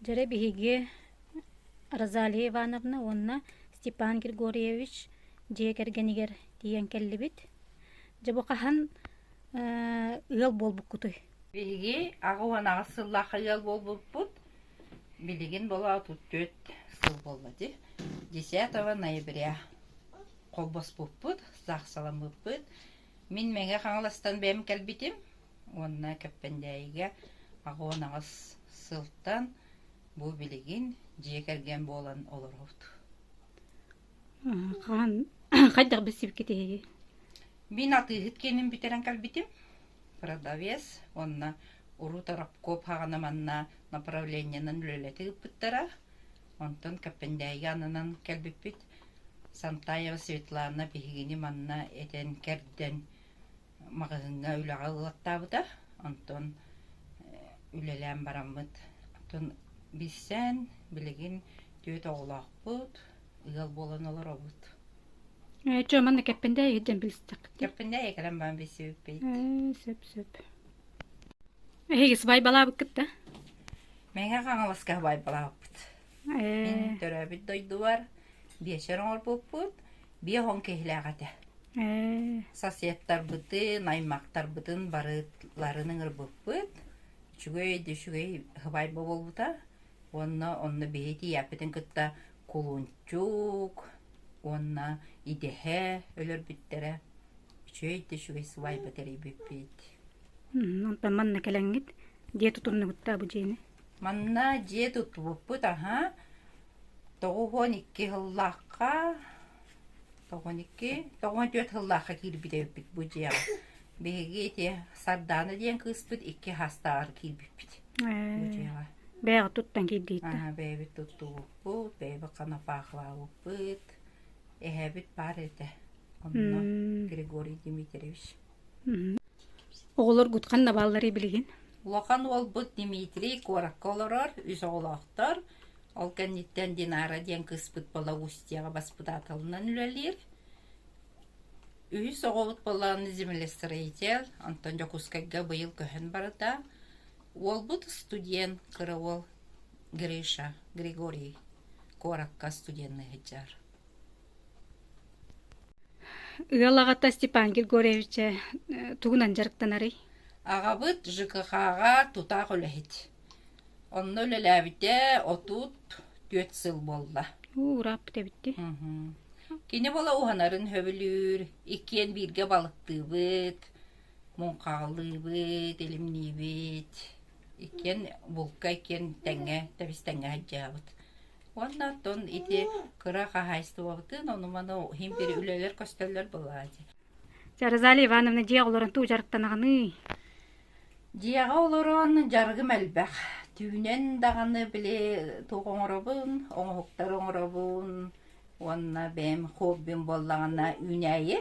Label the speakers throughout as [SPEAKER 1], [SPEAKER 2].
[SPEAKER 1] Дьэ, биһиги Розалия Ивановна уонна Степан Григорьевич дьиэ кэргэнигэр тиийэн кэллибит. Дьэ, бу хаһан ыал буолбуккутуй? Биһиги аҕа уон аҕыс сыллаахха ыал буолбуппут. Билигин була отут түөрт сыл буолла дии. Десятого ноября холбоспуппут, саахсаламмыппыт. Мин мэҥэ Хаҥаластан бэйэм кэлбитим уонна Кэппэндээйигэ аҕыон аҕыс сылтан бу билигин дьиэ кэргэн буолан олоробут. Хаан хайдах билсибиккит эһиги? Мин атыыһыт киэнин бүтэрэн кэлбитим. Продавец уонна уруу Торопков хаҕана манна направлениенан үлэлэти ыыппыттара. Онтон Кэппэндээйигэ ананан кэлбиппит. Сантаева Светлана биһигини манна этэн-кэрдэн маҕаһыыҥҥа үлэҕэ ыллаттаабыта. Онтон үлэлээн бараммыт. Оттон билсэн, билигин түөрт оҕолоохпут, ыал буолан олоробут. Ээ, дьэ, манна Кэппэндээйигэ дьэн билстэххит. Кэппэндээйигэ кэлэн баан билсибиппит. Ээ, сөп, сөп. Эһиги сыбай балаабыккыт да? Мэҥэ Хаҥаласка баайбалаабыппыт. Мин Ээ, төрөөбүт дойдубар биэчэр оҥорбуппут биэс он киһилээх этэ. ээ, Соседтарбытын, аймактарбытын барытларын ыҥырбыппыт. Үчүгэй да үчүгэй сыбаай буолбута. Уонна онно биһи тиийээппитин кытта кулунчук уонна идэһэ өлөрбүттэрэ. Үчүгэй да үчүгэй сыбаайба тэрийбиппит. Онтон манна кэлэҥҥит дьиэ тутуннугуттаа бу дьиэни. Манна дьиэ тутубуппут, аһа, тоҕус уон икки сыллаахха, тоҕон икки, тоҕон түөрт сыллаахха киирбит эбиппит бу дьиэҕэ. Биһиги ити Сардаана диэн кыыспыт икки саастааҕар киирбиппит бу дьиэҕэ. Бэйэҕит туттан киирдииттэ. Бэйэбит туттубуппут, бэйэбит коноплахалаабыппыт, эһэбит баар этэ. Онно Григорий Дмитриевич. Оҕолор Гудкан Наваллары билигин? Улахан уолбут Дмитрий куоракка олорор, үс оҕолоохтор. Ол кэнниттэн Динара диэн кыыспыт Балагустияҕа баспытааталынан үлэлиир. Үһүс оҕобут буолан землестроитель, онтон Дьокуускайга быйыл көһөн барда. Уолбут студент, кыра уол Гриша, Григорий куоракка студенныы сылдьар. Ыал аҕата Степан Григорьевича тугунан дьарыктанарый? Аҕабыт ЖКХ-ҕа тутаах үлэһит. Онно үлэлээбитэ отут түөрт сыл буолла. Урааппыт эбитти. Кини буола уһанарын сөбүлүүр, иккиэн бииргэ балыктыыбыт, муҥхаалыыбыт, илимниибит. Иккиэн булка, иккиэн тэҥҥэ, тэбис тэҥҥэ сылдьаабыт. Уонна оттон ити кыра хаһаайыстыбабытын онуманы химпири үлэлэр көстөллөр былаачы. Жаразали Ивановна дьиэ олорон туу жарыктанаҕыный? Дьиэҕэ олорон жаргым элбэх. Түүнэн даҕаны били туох оҥоробун, оҥоһуктар оҥоробун уонна бэйэм хоббим буоллаҕына үүнээйи.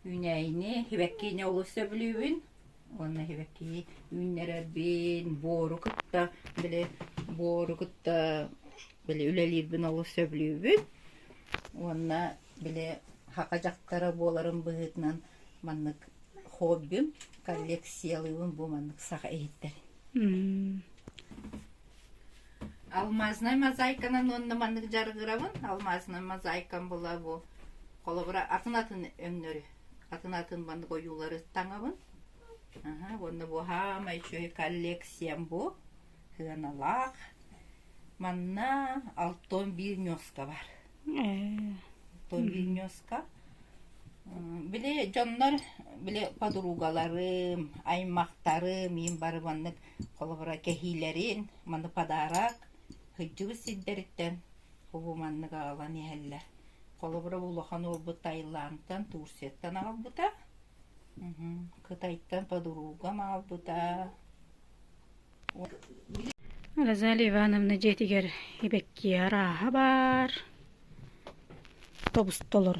[SPEAKER 1] Үүнээйини, сибэккини олус сөбүлүүбүн. уонна сибэкки үүннэрэрбин буору кытта били буору кытта били үлэлиирбин олус сөбүлүүбүн уонна били саха дьахтара буоларым быһыытынан маннык хоббим коллекциялыыбын бу маннык саха иһиттэрин алмазная мозаиканан уонна маннык жаргырабын алмазная мозаикам була бу холобура атын атын өңнөрү атын атын маннык ойуулары таҥабын аха уонна бу хаамай үчүгэй коллекциям бу сыаналаах манна алтон биир ньуоска бар алтон биир ньуоска били дьоннор били подругаларым аймахтарым иин бары маннык холобура кэһиилэрин маны подарок сылдьыбыт сирдэриттэн бу маннык аҕалан иһэллэр Холобура, улахан уолбут Таиландтан, Турцияттан аҕалбыта. Кытайтан подругам аҕалбыта. Розалия Ивановна дьиэтигэр ибэккиэр ааһа баар. Тобустолор.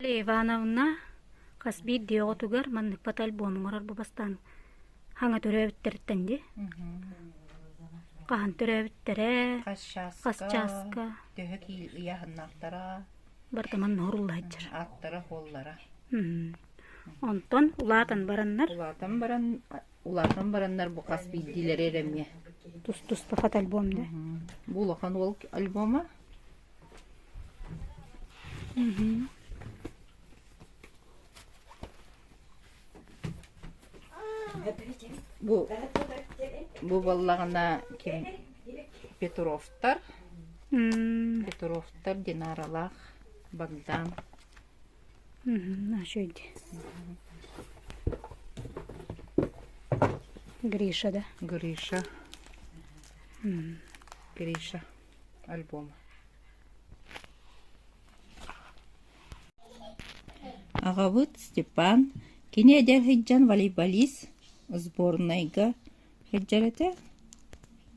[SPEAKER 1] Ивановна хас биирдии оҕотугар манныкпыт альбом оҥорор бу бастаан хаҥа төрөөбүттэриттэн дии хаһан төрөөбүттэрэ Хасчааска төһө киил ыйаһыннаахтара барыта манна оруоллаһыдчар ааттара хуоллара онтон улаатан бараннар улаатан баран улаатан бараннар бу хас биирдиилэри эрэмиэ тус туспа хат альбом да бу улахан уол альбома Бу бу баллаҕына ким Петровтар Петровтар Динаралаах Богдан Ачойди Гриша да Гриша Гриша альбома аҕабыт степан кини эдэр сылдьан волейболист сборнайга сылдьар этэ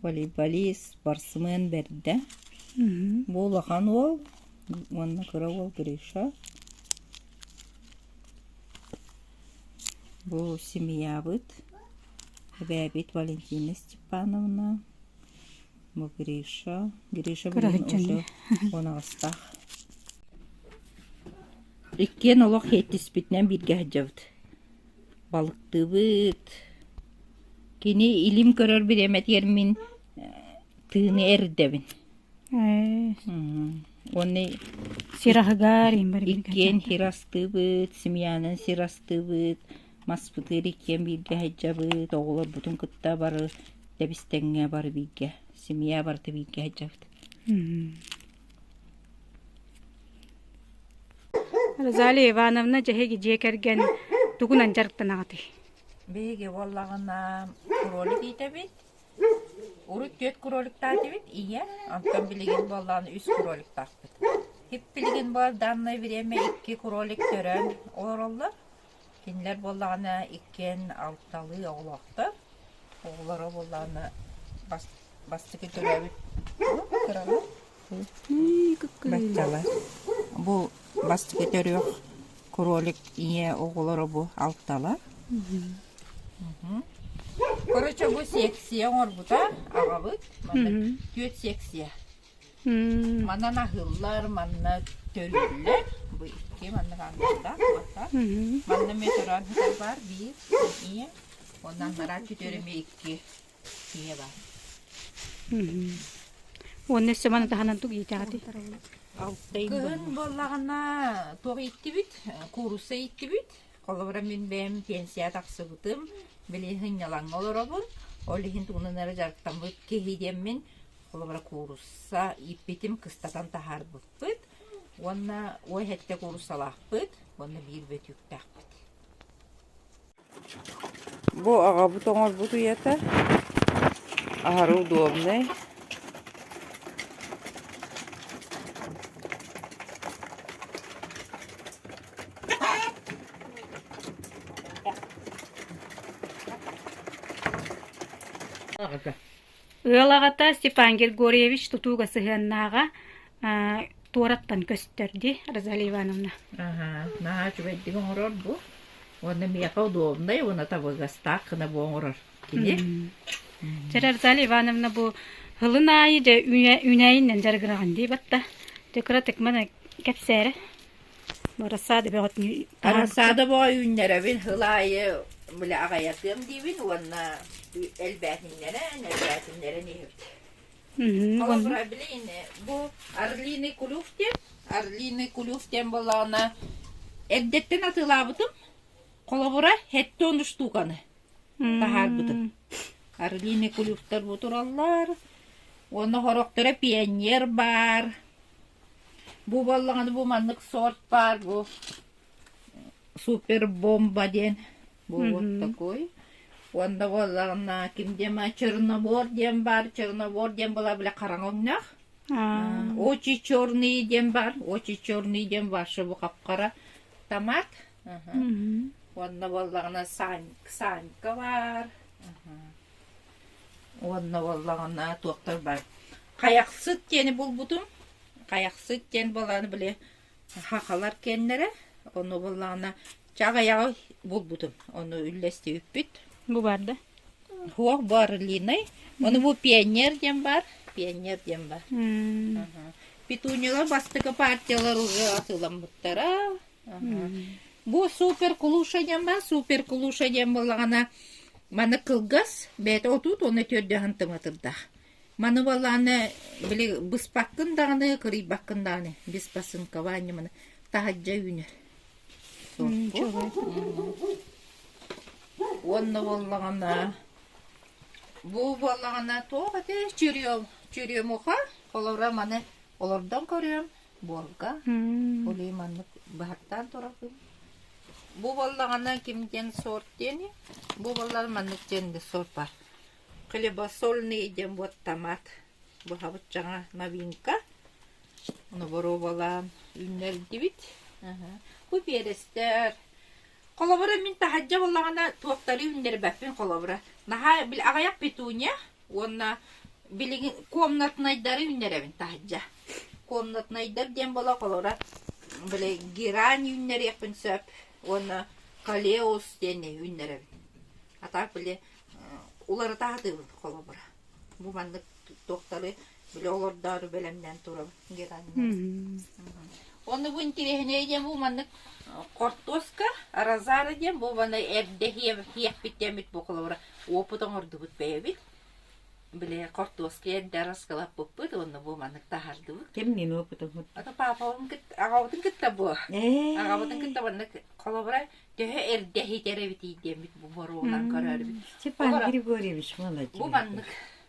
[SPEAKER 1] волейболист спортсмен бэрдэ бу улахан уол уонна кыра уол гриша бу семьябыт эбээбит валентина степановна Бу Гриша. Гриша билигин уонаҕастаах. Иккиэн олох иһиттиспитинэн бииргэ сылдьабыт. Балыктыбыт. Кини илим көрөрбүт эмэтигэр мин тыыны эрдэбин. Уонна сир аһыгар иккиэн сир астыыбыт, семьянан сир астыыбыт, Маспытыыр иккиэн бииргэ сылдьабыт, оҕолорбутун кытта бары Дэбистэҥҥэ бары бииргэ, семья барыта бииргэ сылдьабыт Розалия Ивановна дьэһиги дьиэ кэргэн тугунан дьарыктанаҕытый? Биһиги буоллаҕына кролик иитэбит. Урут түөрт кроликтаатыбыт ийэ, онтон билигин буоллаҕына үс кроликтаахпыт. Хип билигин буолданное время икки кролик төрөөн олороллор. Кинилэр буоллаҕына иккиэн алталыы оҕолоохтор. Оҕолоро буоллаҕына бас бастакы төрөөбүт кыралар баччалар. Бу бастакы төрүөх кролик ийэ оҕолоро бу алталар. Короче бу секция оҥорбута аҕабыт манна түөрт секция. Манан аһыыллар, манна төлүүллэр. Бу икки маннык ааннардаах улахан. Манна метрон ыһытар баар биир эмиэ. Онон араа четыре эмиэ икки ийэ баар. Уонна өссө маны таһынан тугу иитэҕитий? Кыһын буоллаҕына туох ииттибит? Куурусса ииттибит. Холобура мин бэйэм пенсия тахсыбытым. Билигин сынньалаҥҥа олоробун. Ол иһин тугунан эрэ дьарыктаммыт киһи диэммин холобура куурусса ииппитим кыстатан таһаарбыппыт уонна уой сэттэ кууруссалаахпыт уонна биир бөтүүктээхпит бу аҕабыт оҥорбут үйэтэ аһары удобнай Ыал аҕата Степан Григорьевич тутууга сыһыаннааҕа туораттан көстөр дии Розалия Ивановна. наһаа үчүгэйдик оҥорор бу. Уонна миэхэ удобнай уонна табыгастаах гына бу оҥорор кини. Жара Розалия Ивановна бу хылын аайы дьэ үүнэйиннэн дьарыгыраҕын дии батта. Дьэ кыратык маны кэпсээрэ. Барасаада бөҕөтүнүү Барасаада бөҕө үүннэрэбин сыл аайы били аҕайатыам диибин уонна элбээтиннэрэн, элбээтиннэрэн иһэбит. Холобура билин бу орлиный кулюх диэн орлиный кулюх диэн буоллаҕына эрдэттэн атыылаабытым. Холобура хэттэ он штуканы таһаарбытым. Орлиный кулюхтар бу тураллар. Уонна сорохторо пионер баар. Бу буоллаҕына бу маннык сорт баар бу супер бомба диэн бу вот такой. Уонна буоллаҕына ким диэн чернобор диэн баар чернобор диэн была бile хараҥаҥнах очень черный диэн бар очень черный диэн ваша бу хапхара томат уонна буоллаҕына сань ксанька бар Уонна буоллаҕына туохтар бар Хайахсыт диэни булбутум. Хайахсыт диэн буоллаҕына били хахалар киэннэрэ. Ону буоллаҕына чаҕыйаҕы булбутум. Ону үллэстибиппит. Бу баар да? Суох, бу орлиный. Ону бу пионер диэн баар. Пионер диэн баар. Петуниялар бастакы партиялар уже атыыламмыттара. Бу супер кулушанием бар, супер кулушанием буоллаҕына, маны кылгас, бэйэтэ отут уонна төрдөһөн тыматырдаах. Маны балааны били быспаккын даҕаны, кырыйбаккын даҕаны, беспосынкование маны таһаджа үүнэр. Уонна буоллаҕына бу буоллаҕына туох ити черем черемуха олоро маны олордон көрүөм буорга. Улуу маннык быһаттаан турабын. Бу боллаҕына ким диэн сорт диэни, бу боллар маннык диэн да сорт бар. Хлебосольный диэн вот томат. Быһабыт жаңа новинка. Оны боруобалаан үүннэрдибит. Бу биэрэстэр. Холобура мин таһаджа боллаҕына туохтары үүннэрбэппин холобура. Наһаа бил аҕаяк петуния. уонна билигин комнатнайдары үүннэрэбин таһырдьа комнатнайдар диэн буола холора били герань үүннэриэхпин сөп уонна калеус диэни үүннэрэбин а так били уларыта сатыыбын холобура бу маннык туохтары Били олордоору бэлэмнээн турабын Геральнос. Оны бу интереснее диэн бу маннык хортуоска розара диэн бу баны эрдэһиэ тиэхпиттэммит бу холобура опыт оҥордубут бэйэбит били хортуоска эрдэ раскалаппыппыт онно бу маннык таһардыбыт Ким мин опытыммыт? ата папабын кыт аҕабытын кытта бу Ээ. аҕабытын кытта маннык холобура төһө эрдэһитэр эбитий диэммит бу боруонан көрөрбүт Степан Олора. Григорьевич, молодец. бу маннык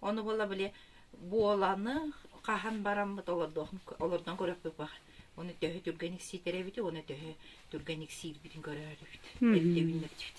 [SPEAKER 1] Ону була били буоланы хаһан бараммыт олордон көрөхпүпэх. Оны төһө түргэн иксиитэр эбити, оны төһө түргэн иксиирбитин көрөөрүбүт. Ирдебиннэрдибит.